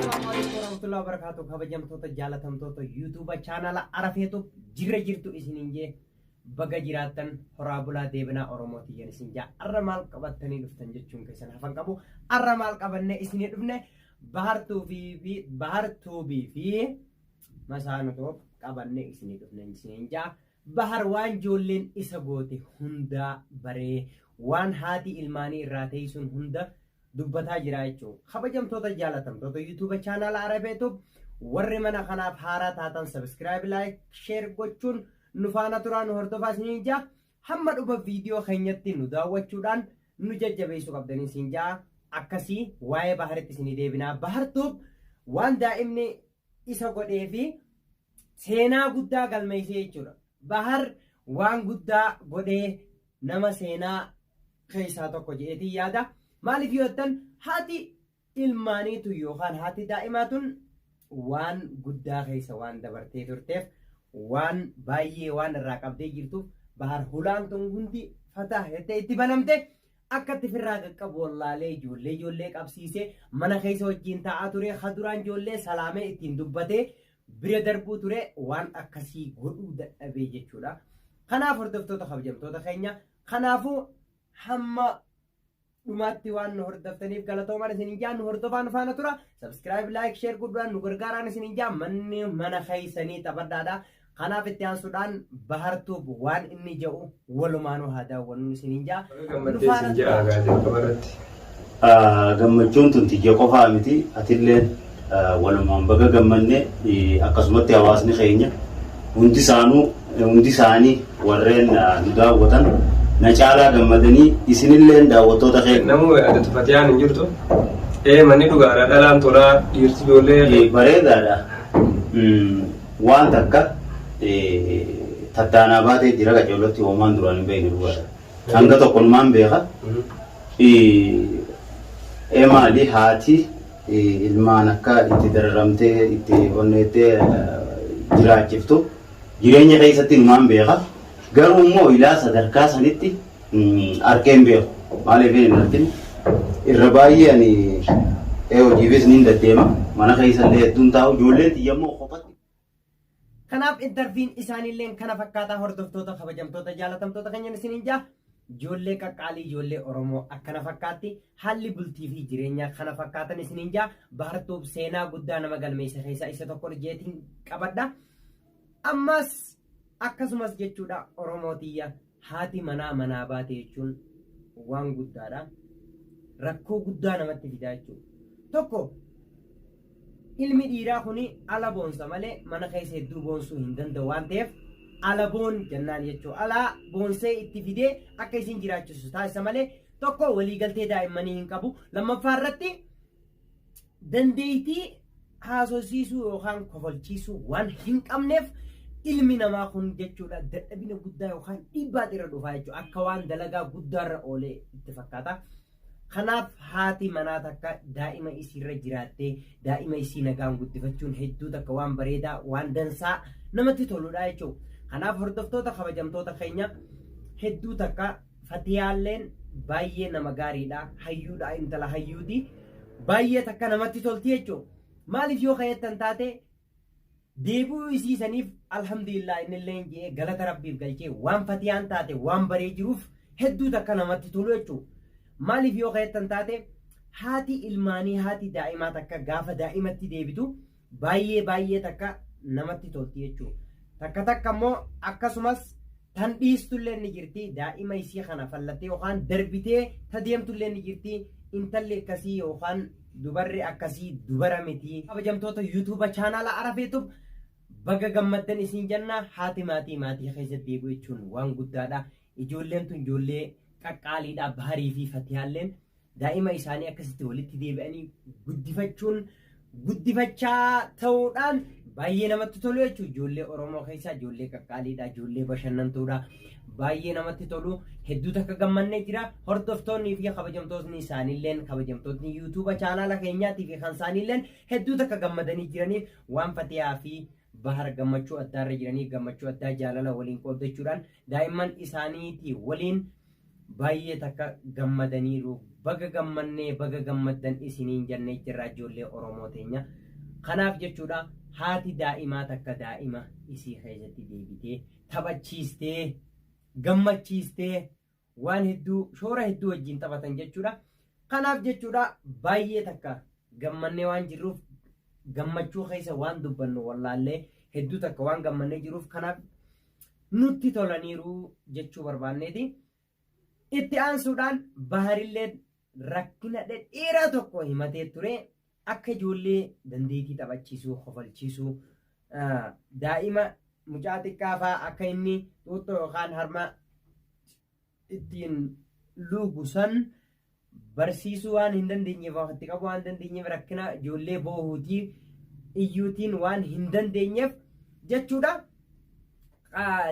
warahmatullahi wabarakatuh kabajamtoota jaalatamtoota yuutuuba chaanala arafeetuuf jirra jirtu isiniin jee baga jiraattan horaa bulaa deebinaa oromooti yen isin jaa arra maal qabattanii dhuftan jechuun keessan hafan qabu arra maal qabanne isinii dhufne bahartuubii fi bahartuubii fi masaanutoof qabanne isinii dhufne isiniin jaa Bahar waan joolleen isa goote hundaa baree waan haati ilmaanii irraa teeysuun hunda dubbataa jiraa jechuu. Kabajamtoota jaalatamtoota YouTube channel Arabetub warri mana kanaaf haaraa taatan subscribe like share gochuun nu faana turaa nu hordofaa isiniin jaa hamma dhuma viidiyoo keenyatti nu daawwachuudhaan nu jajjabeessuu qabdanii isin jaa akkasii waa'ee baharitti isinii deebinaa bahartuuf waan daa'imni isa godhee fi seenaa guddaa galmeessee jechuudha. Bahar waan guddaa godhee nama seenaa keessaa tokko jedheetiin yaada. Maaliif yoo jettan haati ilmaaniitu yookaan haati daa'imaa tun waan guddaa keessa waan dabartee turteef waan baay'ee waan irraa qabdee jirtuuf bahar hulaan tun hundi fataa jettee itti banamte Akkatti firraa qaqqabu wallaalee ijoollee ijoollee qabsiisee mana keessa wajjin taa'aa ture ha duraan ijoollee salaamee ittiin dubbatee bira darbuu ture waan akkasii godhuu dadhabee jechuudha. Kanaaf hordoftoota kabajamtoota keenya kanaafuu hamma dhumaatti waan nu hordoftaniif galatoomaan isin ijaan nu hordofaa nu faana tura. Subscribe, like, share guddaa nu gargaaraan isin ijaan manni mana keessanii taphadhaadha. Kanaaf itti aansuudhaan Bahar Tuub waan inni ja'u walumaanuu haa daawwannu isiniin ja'a. Gammaddee isin ja'a gaa jalqaba irratti. Gammachuun tun tiyya qofaa miti atilleen walumaan baga gammanne akkasumatti hawaasni keenya hundi isaanuu hundi isaanii warreen nu daawwatan na caalaa gammadanii isinilleen daawwattoota keenya. Namuu yaadatu Fatiyaan hin jirtu. Ee manni dhugaadha dhalaan tolaa dhiirti ijoollee. Bareedaadha. Waan takka tattaanaa baatee jira qaceellotti hoomaan duraan hin beekne dhugaadha. Hanga tokkonumaan beeka. Ee maali haati ilmaan akka itti dararamtee itti onneettee jiraachiftu jireenya keessatti numaan beeka. Garuu immoo ilaa sadarkaa sanitti Argee hin beeku. Maaliif hin argin? Irra baay'ee ani hojiifis niin deddeema. Mana keessa illee hedduun taa'u. Ijoolleen tiyya immoo kophatti. Kanaaf interviin isaaniilleen kana fakkaataa hordoftoota kabajamtoota jaalatamtoota keenyan isiniin jaa ijoollee qaqqaalii ijoollee Oromoo akkana fakkaatti haalli bultii fi jireenyaa kana fakkaatan isiniin jaa baartuuf seenaa guddaa nama galmeessa keessaa isa tokko jeetiin qabadha. Ammas akkasumas jechuudha Oromoo tiyya Haati manaa manaa baate jechuun waan guddaadha. Rakkoo guddaa namatti fidaa jechuudha. Tokko ilmi dhiiraa kun ala boonsa malee mana keessa hedduu boonsuu hin danda'u waan ta'eef ala boon jennaan jechuudha. Alaa boonsee itti fidee akka isin jiraachisu taasisa malee tokko waliigaltee daa'immanii hin qabu. Lammaffaa irratti dandeettii haasofsiisuu yookaan kofalchiisuu waan hin qabneef ilmi namaa kun jechuudha dadhabina guddaa yookaan dhiibbaatu irra dhufaa jechuudha akka waan dalagaa guddaarra oolee itti fakkaata. Kanaaf haati manaa takka daa'ima isiirra jiraattee daa'ima isii nagaan guddifachuun hedduu takka waan bareedaa waan dansaa namatti toludha jechuudha. Kanaaf hordoftoota kabajamtoota keenya hedduu takka Fatiyaalleen baay'ee nama gaariidha hayyuudha intala hayyuuti baay'ee takka namatti tolti jechuun maaliif yoo kayattan taate deebi'uu isii saniif alhamdulillah innilleen je'ee galata rabbiif galchee waan fatiyaan taate waan baree jiruuf hedduu takka namatti tolu jechuun maaliif yoo kayattan taate haati ilmaanii haati daa'imaa takka gaafa daa'imatti deebitu Baay'ee baay'ee takka namatti tolti jechuudha. Takka takka immoo akkasumas tan dhiistullee ni jirti daa'ima isii kana fallattee yookaan darbitee ta deemtullee ni jirti intalli akkasii yookaan dubarri akkasii dubara miti. Kabajamtoota yuutuuba chaanaala Arafeetuf baga gammaddan isin jenna haati maatii maatii keessa deebi'u jechuun waan guddaadha. Ijoolleen tun ijoollee qaqqaaliidha Baharii fi Fatiyaalleen. daa'ima isaanii akkasitti walitti deebi'anii guddifachuun guddifachaa ta'uudhaan baay'ee namatti tolu jechuudha. Ijoollee Oromoo keessaa ijoollee qaqqaaliidha, ijoollee bashannantuudha. Baay'ee namatti tolu. Hedduu takka gammannee jira. Hordoftoonnii fi kabajamtootni isaaniilleen kabajamtootni yuutuuba chaanaala keenyaatii fi kan isaaniilleen hedduu takka gammadanii jiraniif waan fatiyaa fi Bahar gammachuu addaarra jiranii gammachuu addaa jaalala waliin qooddachuudhaan daa'imman isaaniitii waliin baay'ee takka gammadaniiru. Baga gammannee baga gammaddan isiniin jannee jirraa ijoollee Oromoo teenya. Kanaaf jechuudha haati daa'imaa takka daa'ima isii keessatti deebitee taphachiistee gammachiistee waan hedduu shoora hedduu wajjin taphatan jechuudha. Kanaaf jechuudha baay'ee takka gammannee waan jirruuf gammachuu keessa waan dubbannu wallaallee hedduu takka waan gammannee jiruuf kanaaf nutti tolaniiru jechuu barbaanneeti. Itti aansuudhaan baharillee rakkina dhedheeraa tokko himatee ture. Akka ijoollee dandeetii taphachiisuu, kofalchiisuu, daa'ima mucaa xiqqaa fa'aa akka inni xuuxxoo yookaan harma ittiin luugu san barsiisuu waan hin dandeenyeef itti qabuu waan dandeenyeef rakkina ijoollee boohuutii iyyuutiin waan hin dandeenyeef jechuudha.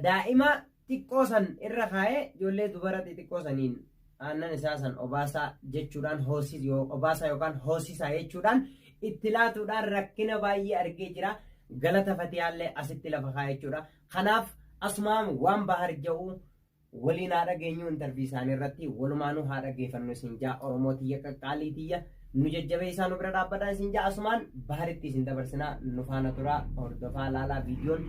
Daa'ima xiqqoo san irra kaa'ee ijoollee dubara xixiqqoo saniin aannan isaa san obaasaa jechuudhaan hoosis yoo obaasaa yookaan hoosisaa jechuudhaan itti laatuudhaan rakkina baay'ee argee jira galata fatiyaallee asitti lafa kaa'e jechuudha kanaaf asumaan waan bahar ja'u waliin haa dhageenyu intarvii isaanii irratti walumaanuu haa dhageeffannu isin jaa oromoo tiyya qaqqaalii tiyya nu jajjabeessaa nu bira dhaabbataa isin ja'a asumaan baharitti isin dabarsinaa nu faana turaa hordofaa laalaa viidiyoon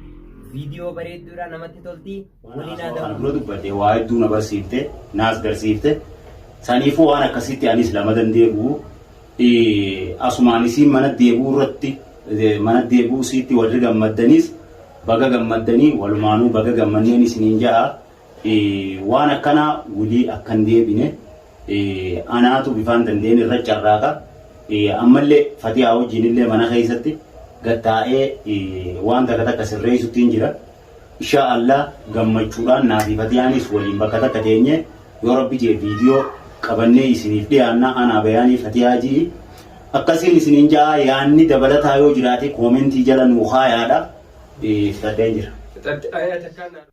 viidiyoo bareedduudha namatti tolti waliin haa Kan dura dubbadhe waa hedduu na barsiifte naas garsiifte saniifuu waan akkasitti anis lama dandeebi'u asumaan isiin mana deebi'uu irratti mana deebi'uu isiitti warri gammaddanis baga gammaddanii walumaanuu baga gammanneen isiniin ja'a Waan akkanaa wly akka hin deebine anaatu bifaan danda'een irra carraaqa. Ammallee Fatiyaa wajjiin illee mana keessatti gad taa'ee waan takka takka sirreessuttiin jira. Inshaa Allah gammachuudhaan naa fi Fatiyaanis waliin bakka takka teenyee yoo Rabbi jee viidiyoo qabannee isiniif dhiyaanna anaa bayaanii Fatiyaa ji'i. Akkasiin isiniin ja'a yaanni dabalataa yoo jiraate koomentii jala nuu kaayaadha. Fixadheen jira. Fixadhe. Ayyaa takkaa naa.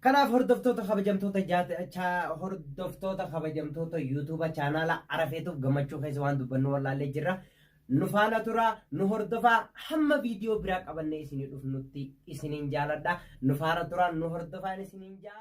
Kanaaf hordoftoota kabajamtoota jaata- cha- hordoftoota kabajamtoota yuutuuba chaanaala arafeetuuf gammachuu keessa waan dubbannu wallaallee jirra. Nu faana tura, nu hordofaa hamma viidiyoo biraa qabannee isinii dhufnutti isiniin jaaladha. Nu faana tura, nu hordofaan isiniin jaa.